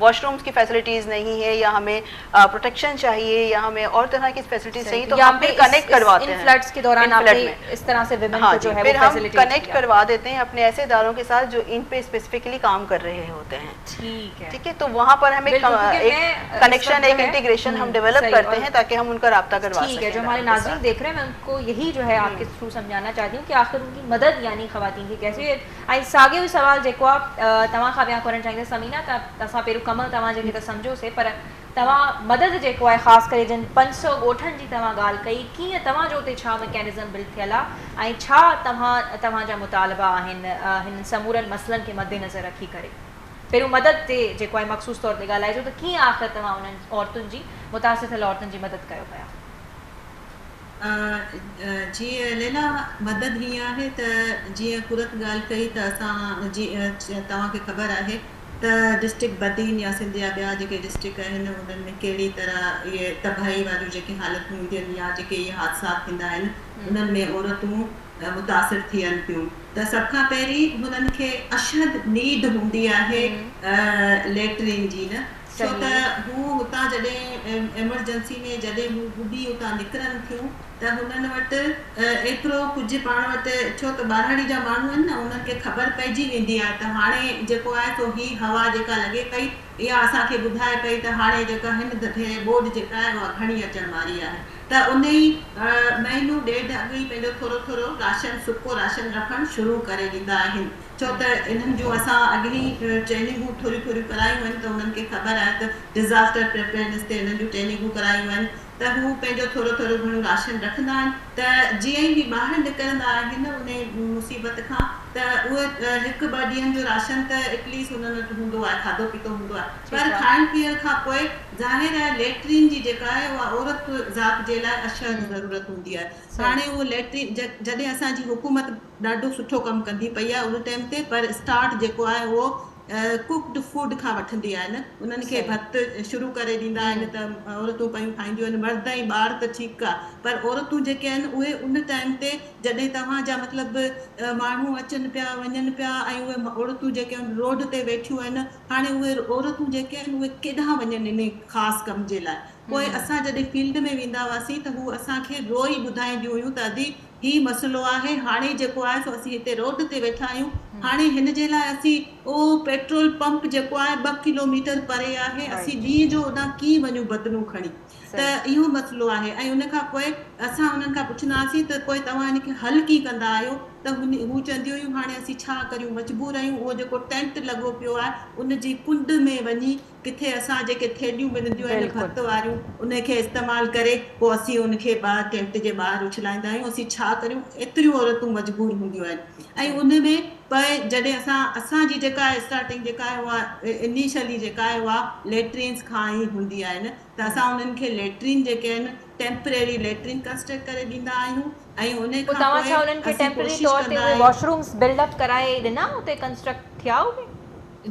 واش رومس ڪي فيسلٽيز نهي هي يا همي پروٽيڪشن چاهيي يا همي اور طرح ڪي فيسلٽيز چاهيي تو هم پھر ڪنيڪٽ ڪرواتي هين ان فلڊس ڪي دوران آپ ڪي اس طرح سي ويمن ڪو جو هي وو فيسلٹيز ڪي ڪنيڪٽ ڪروا ديتي هين اپني ايسي ادارو ڪي ساتھ جو ان پي اسپيسفيڪلي ڪام ڪر رهي هوتي هين ٺيڪ هي ٺيڪ هي تو وهان پر همي ايڪ ڪنيڪشن ايڪ انٽيگريشن هم ڊيولپ ڪرتي هين تاڪي هم ان ڪا رابطا ڪروا سڪين ٺيڪ هي جو هماري ناظرين ديک رهي هين مي ان ڪو يهي جو هي آپ ڪي ٿرو سمجهانا چاهتي هون ڪي آخر ان ڪي مدد يعني خواتين ڪي ڪيسي ۽ ساڳيو ئي سوال جيڪو آ توهان کان به آئون ڪرڻ چاهيندس ثمينه ته اسان پهريون ڪم توهان جي کي ته سمجهيو سي پر توهان مدد جيڪو آهي خاص ڪري جن پنج سؤ ڳوٺن جي توهان ڳالهه ڪئي ڪيئن توهان جو اتي ڇا مڪينزم بلڊ ٿيل آ ۽ ڇا توهان توهان جا مطالبا آهن هنن سمورن مسئلن کي مدنظر رکي ڪري پهريون مدد تي جيڪو آهي مخصوص طور تي ڳالهائجو ته ڪيئن آخر توهان انهن عورتن جي متاثر ٿيل عورتن جي مدد ڪيو پيا. جي ليلا مدد هيئن آهي ته جيئن قرت ڳالهه ڪئي ته اسان جي توهان کي خبر آهي ته ڊسٽرڪٽ بدين يا سنڌ جا ٻيا جيڪي ڊسٽرڪٽ آهن انهن ۾ ڪهڙي طرح اهي تباهي واريون جيڪي حالتون هونديون آهن يا جيڪي اهي حادثات ٿيندا آهن انهن ۾ عورتون متاثر ٿين ٿيون ته سڀ کان پهرين هنن کي اشد نيڊ هوندي آهي ليٽرين جي نه ڇو ته هو هتان جڏهن ايمرجنسي ۾ جڏهن هو ٻڏي اتان نڪرن ٿيون ته هنن وٽ ايترو ڪجهه پاڻ وٽ ڇو ته ٻاراڙي جا ماڻهو آهن نه انهن کي خبر پئجي ويندي آهي ته هاڻي جيڪو آهي سو هي هوا جيڪا لڳي پئي اها اسان کي ٻڌائي پئي ته هاڻي جيڪا هن ڌڌيري ٻوڏ جيڪا آهي اها گهڻي اچڻ واري آهي ته انهي مهينو ڏيڍ اڳ ئي پنهنجو ٿورو ٿورو راشن سڪو راشن رکڻ شروع ڪري ڏيندا آهن. ڇو ته انهن جون اسان اڳ ئي ٽريننگون ٿوريون ٿوريون ڪرايون آهن ته انهن کي خبر آهي ته ڊزاسٽر پريپيئرنس تي انهن جون ٽريننگون ڪرايون آهن ته هو پنهنجو ٿورو ٿورو گهڻو راشن رکندا آهن ته جيئن ئي هي ٻاهر نڪرندا آهن انهي مصيبت کان ته اهي هڪ ٻه ڏينهن جو راشن ته ايٽليسٽ انهن وٽ هوندو آهي کاڌو پيتو هوندو آهي پر کائڻ پيئڻ کان پوء ظاهر آهي ليٽرين جي جيڪا آهي اها عورت ذات جي لاء اشهد ضرورت هوندي آهي هاڻي اهو ليٽرين جڏهن اسان جي حڪومت ڏاڍو سٺو ڪم ڪندي پئي آهي ان ٽائيم تي پر اسٽارٽ جيڪو آهي اهو ڪوڪڊ فوڊ کان وٺندي آهي نه انهن کي ڀت شروع ڪري ڏيندا آهن ته عورتون پيون کائينديون آهن مرد ۽ ٻار ته ٺيڪ آهي پر عورتون جيڪي آهن اهي ان ٽائيم تي جڏهن توهان جا مطلب ماڻهو اچن پيا وڃن پيا ۽ اهي عورتون جيڪي آهن روڊ تي ويٺيون آهن هاڻي اهي عورتون جيڪي آهن اهي ڪيڏانهن وڃن انهي خاص ڪم جي لاء پوء اسان جڏهن فيلڊ ۾ ويندا هئاسين ته هو اسان کي روئي ٻڌائينديون هيون ته ادي هي مسئلو آهي، هاڻي جيڪو آهي سو اسين هتي روڊ تي ويٺا آهيون، هاڻي هن جي لاء اسين اهو پيٽرول پمپ جيڪو آهي ٻه ڪلو ميٽر پري آهي، اسين ڏينهن جو اوڏانهن ڪيئن وڃون بدنون کڻي، ته اهو مسئلو آهي ۽ ان کان پوء اسان انهن کان پڇندا هئاسين ته پوء توهان ان کي حل ڪيئن ڪندا آهيو، ته هو چونديون هيون هاڻي اسين ڇا ڪريون مجبور آهيون اهو جيڪو ٽينٽ لڳو پيو آهي ان جي ڪنڊ ۾ وڃي، ڪٿي اسان جيڪي ٿيلهيون ملنديون آهن ڀت واريون انهي کي استعمال ڪري پوء اسين ان کي ٻاهر ٽينٽ جي ٻاهر اڇلائيندا آهيون اسين ڇا ڪريون ايتريون عورتون مجبور هونديون آهن ۽ ان ۾ پء جڏهن اسان اسان جي جيڪا اسٽارٽنگ جيڪا آهي اها انيشلي جيڪا آهي اها ليٽرينز کان ئي هوندي آهي نه ته اسان انهن کي ليٽرين جيڪي آهن ٽيمپرري ليٽرين ڪنسٽرڪٽ ڪري ڏيندا آهيون ۽ انهي کان پوء اسين ڪوشش ڪندا آهيون.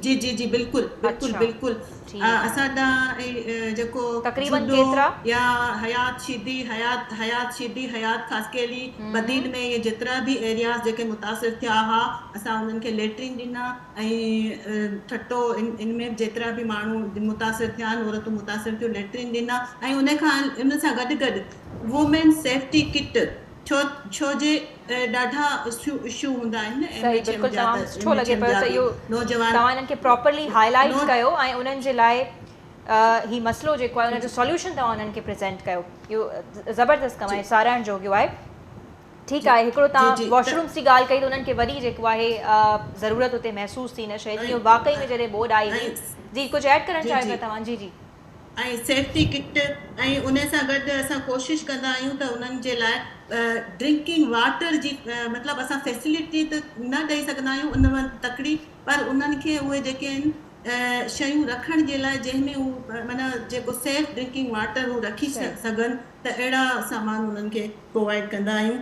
جي جي جي بلڪل بلڪل اڇا بلڪل ٺيڪ آ. اسان ڏانهن ۽ جيڪو تقريبن جهڏو ڪيترا؟ يا حيات شيدي حيات حيات شيدي حيات خاصخيلي بدين ۾ اهي جيترا به ايرياز جيڪي متاثر ٿيا ها اسان انهن کي ليٽرين ڏنا ۽ ٺٽو ان ان ۾ به جيترا به ماڻهو متاثر ٿيا آهن عورتون متاثر ٿيون ليٽرين ڏنا ۽ ان کان ان سان گڏ گڏ وومين سيفٽي ڪٽ ڇو ڇو جي ڏاڍا اشو هوندا آهن ايم ايڇ ايم جا ته ايم ايڇ ايم جا به نوجوان. توهان انهن کي پراپرلي هاء لائيٽ ڪيو ۽ انهن جي لاء هي مسئلو جيڪو آهي ان جو سوليوشن توهان انهن کي پريزينٽ ڪيو اهو زبردست ڪم آهي ساراهڻ جوڳيو آهي ٺيڪ آهي هڪڙو توهان واش رومس جي ڳالهه ڪئي ته انهن کي وري جيڪو آهي ضرورت اتي محسوس ٿي ان شيء جي واقعي ۾ جڏهن ٻوڏ آئي هئي جي ڪجهه ايڊ ڪرڻ چاهيو ٿا توهان جي جي ۽ سيفٽي ڪٽ ۽ ان سان گڏ اسان ڪوشش ڪندا آهيون ته انهن جي لاء ڊرنڪنگ واٽر جي مطلب اسان فيسلٽي ته نه ڏئي سگهندا آهيون ان مان تڪڙي پر انهن کي اهي جيڪي آهن شيون رکڻ جي لاء جنهن ۾ هو معنيٰ جيڪو سيف ڊرنڪنگ واٽر هو رکي سگهن ته اهڙا سامان انهن کي پرووائيڊ ڪندا آهيون.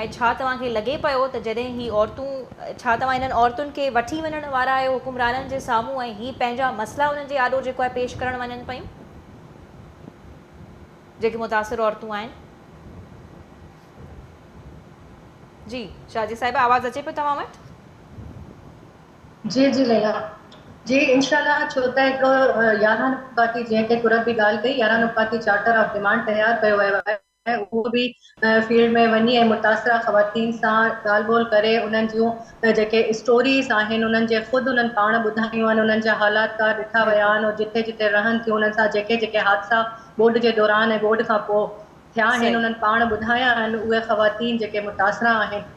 ۽ ڇا توهان کي لڳي پيو ته جڏهن هي عورتون ڇا توهان انهن عورتن کي وٺي وڃڻ وارا آهيو حڪمرانن جي سامهون ۽ هي پنهنجا مسئلا انهن جي آڏو جيڪو آهي پيش ڪرڻ وڃن پيون جيڪي متاثر عورتون آهن. جي شازي صاحبه آواز اچي پيو توهان وٽ. جي جي ليلا جي انشاء الله ڇو ته هڪڙو يارهن نقاطي جنهن تي قرت به ڳالهه ڪئي يارهن نقاطي چارٽر آف ڊمانڊ تيار ڪيو ويو آهي. ۽ اهو به فيلڊ ۾ وڃي ۽ متاثره خواتين سان ڳالهه ٻولهه ڪري انهن جون جيڪي اسٽوريز آهن انهن جي خود انهن پاڻ ٻڌايون آهن انهن جا حالات ڪار ڏٺا ويا آهن ۽ جتي جتي رهن ٿيون انهن سان جيڪي جيڪي حادثا ٻوڏ جي دوران ۽ ٻوڏ کان پوء ٿيا آهن انهن پاڻ ٻڌايا آهن اهي خواتين جيڪي متاثره آهن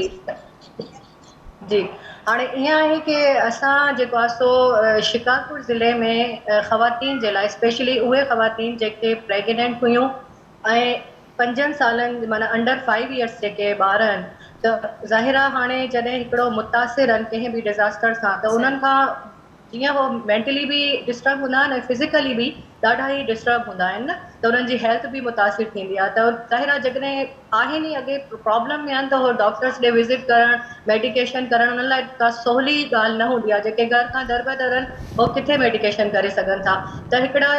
جي جي هاڻي ائين آهي ڪي اسان جيڪو آ سو شڪارپور ضلعي ۾ خواتين جي لاء اسپيشلي اهي خواتين جيڪي پريگننينٽ هيون ۽ پنجن سالن معنيٰ انڊر فائيو ايئرس جيڪي ٻار آهن ته ظاهر آ هاڻي جڏهن هڪڙو متاثر آهن ڪنهن به ڊزاسٽر سان ته انهن صحيح کان جيئن هو مينٽلي به ڊسٽرب هوندا آهن ۽ فزيڪلي به ڏاڍا ئي ڊسٽرب هوندا آهن نه ته انهن جي هيلٿ به متاثر ٿيندي آهي ته ظاهر آهي جيڪڏهن آهن ئي اڳي پرابلم ۾ آهن ته هو ڊاڪٽرس ڏي وزٽ ڪرڻ ميڊيڪيشن ڪرڻ انهن لاء ڪا سولي ڳالهه نه هوندي آهي جيڪي گهر کان در به در آهن هو ڪٿي ميڊيڪيشن ڪري سگهن ٿا ته هڪڙا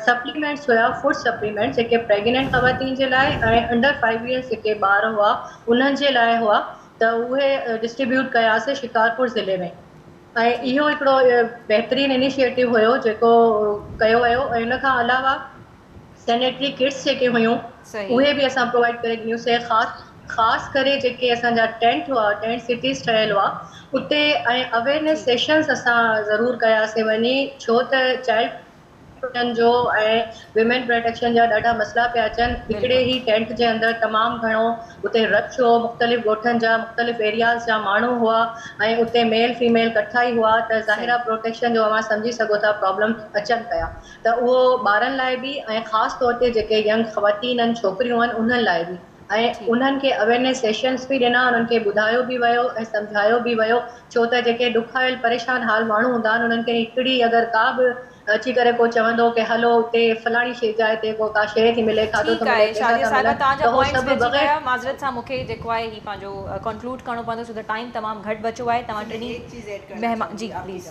سپليمينٽس هيا فوڊ سپليمينٽس جيڪي پريگننٽ خواتين جي لاء ۽ انڊر فائيو ايئرس جيڪي ٻار هئا انهن جي لاء هئا ته اهي ڊسٽريبيوٽ ڪياسي شڪارپور ضلعي ۾ ۽ اهو هڪڙو بهترين انيشيئيٽو هيو جيڪو ڪيو ويو ۽ ان کان علاوه سينيٽري ڪٽس جيڪي هيون اهي به اسان پرووائيڊ ڪري ڏنيون سين خاص خاص ڪري جيڪي اسان جا ٽينٽ هئا ٽينٽ سٽيز ٺهيل هئا اتي ۽ اويرنيس سيشنس اسان ضرور ڪياسين وڃي ڇو ته چائلڊ ڇوٽن جو ۽ ويمين پراٽيڪشن جا ڏاڍا مسئلا پيا اچن هڪڙي هي ٽينٽ جي اندر تمام گهڻو اتي رش هو مختلف ڳوٺن جا مختلف ايرياز جا ماڻهو هئا ۽ اتي ميل فيميل ڪٺا ئي هئا ته ظاهر آ پروٽيڪشن جو اوهان سمجهي سگهو ٿا پرابلم اچن پيا ته اهو ٻارن لاء به ۽ خاص طور تي جيڪي ينگ خواتين ان ڇوڪريون ان انهن لاء به. ۽ ٺيڪ انهن کي اويرنيس سيشنس به ڏنا انهن کي ٻڌايو به ويو ۽ سمجهايو به ويو ڇو ته جيڪي ڏکايل پريشان حال ماڻهو هوندا آهن انهن کي هڪڙي اگر ڪا به اچي ڪري ڪو چوندو ڪي هلو اتي فلاڻي شي جاء تي ڪو ڪا شيء ٿي ملي کاڌو ٿو ٺيڪ ملي آهي پيسا شازيه ٿا صاحبه ملن توهان جا ته هو پوائنٽس سڀ گڏجي بغير ويا معذرت سان مون کي جيڪو آهي هي پنهنجو ڪنڪلوڊ ڪرڻو پوندو ڇو ته ٽائيم تمام گهٽ بچو آهي توهان ٽنهي مهمان جي پليز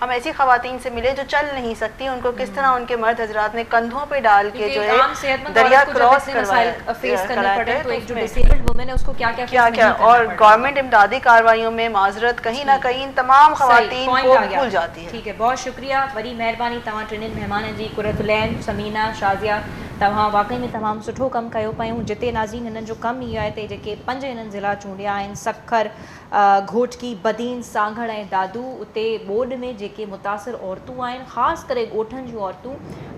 هم ايسي خواتين سي ملي جو چل نهين سڪتي ان ڪو ڪس طرح ان ڪي مرد حضرات ني ڪنڌون پي ڊال ڪي جو هي دريا ڪراس ڪرواياڪراٽي ڪيا ڪيا اور گورنمنٽ امدادي ڪاروايون مي معذرت ڪهين نه ڪهين تمام خواتين ڪو ڀول جاتي هي. ٺيڪ هي بهت شڪريه وڏي مهرباني توهان ٽنين مهمانن جي قرت العين ثمينه شازيه توهان واقعي ۾ تمام سٺو ڪم ڪيو پيون جتي ناظرين هنن جو ڪم ئي اهو آهي تي جيڪي پنج هنن ضلعا چونڊيا آهن سکر گهوٽڪي، بدين، سانگهڙ ۽ دادو اتي ٻوڏ ۾ جيڪي متاثر عورتون آهن خاص ڪري ڳوٺن جون عورتون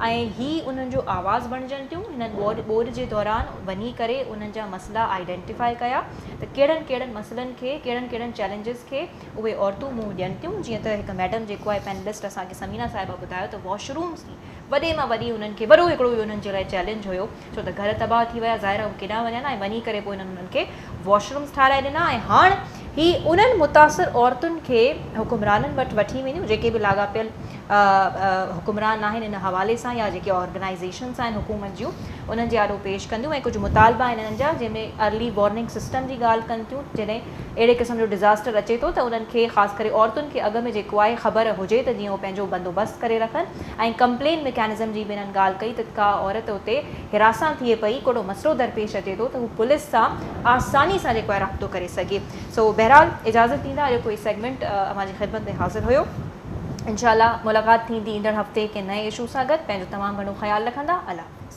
۽ هي انهن جو آواز بڻجن ٿيون هنن ٻوڏ جي دوران وڃي ڪري انهن جا مسئلا آئيڊينٽيفائي ڪيا ته ڪهڙن ڪهڙن مسئلن کي ڪهڙن ڪهڙن چئلينجز کي اهي عورتون منهن ڏين ٿيون جيئن ته هڪ ميڊم جيڪو آهي پينلسٽ اسان کي ثمينه صاحبه ٻڌايو ته واشرومز جي وڏي مان وڏي انهن کي وڏو هڪڙو اهو انهن جي لاء چئلينج هيو ڇو ته گهر تباهه ٿي ويا ظاهر آهي هو ڪيڏانهن وڃن ها ۽ وڃي ڪري پوء هنن انهن کي واش رومز ٺاهرائي ڏنا ۽ هاڻ هي انهن متاثر عورتن کي حڪمرانن وٽ وٺي وينديون جيڪي به لاڳاپيل حڪمران آهن ان حوالي سان يا جيڪي آرگنائيزيشنز آهن حڪومت جون انهن جي آڏو پيش ڪنديون ۽ ڪجهه مطالبا آهن انهن جا جنهن ۾ ارلي وارننگ سسٽم جي ڳالهه ڪن ٿيون جڏهن اهڙي قسم جو ڊزاسٽر اچي ٿو ته انهن کي خاص ڪري عورتن کي اڳ ۾ جيڪو آهي خبر هجي ته جيئن هو پنهنجو بندوبست ڪري رکن ۽ ڪمپلين مڪينزم جي به انهن ڳالهه ڪئي ته ڪا عورت اتي حراسان ٿئي پئي ڪهڙو مسئلو درپيش اچي ٿو ته هو پوليس سان آساني سان جيڪو آهي رابطو ڪري سگهي سو بهرحال اجازت ڏيندا اڄوڪو هي سيگمينٽ اوهان جي خدمت ۾ حاضر هيو انشاء الله ملاقات ٿيندي ايندڙ هفتي ڪنهن نئين اشو سان گڏ پنهنجو تمام گهڻو خيال رکندا الله حافظ.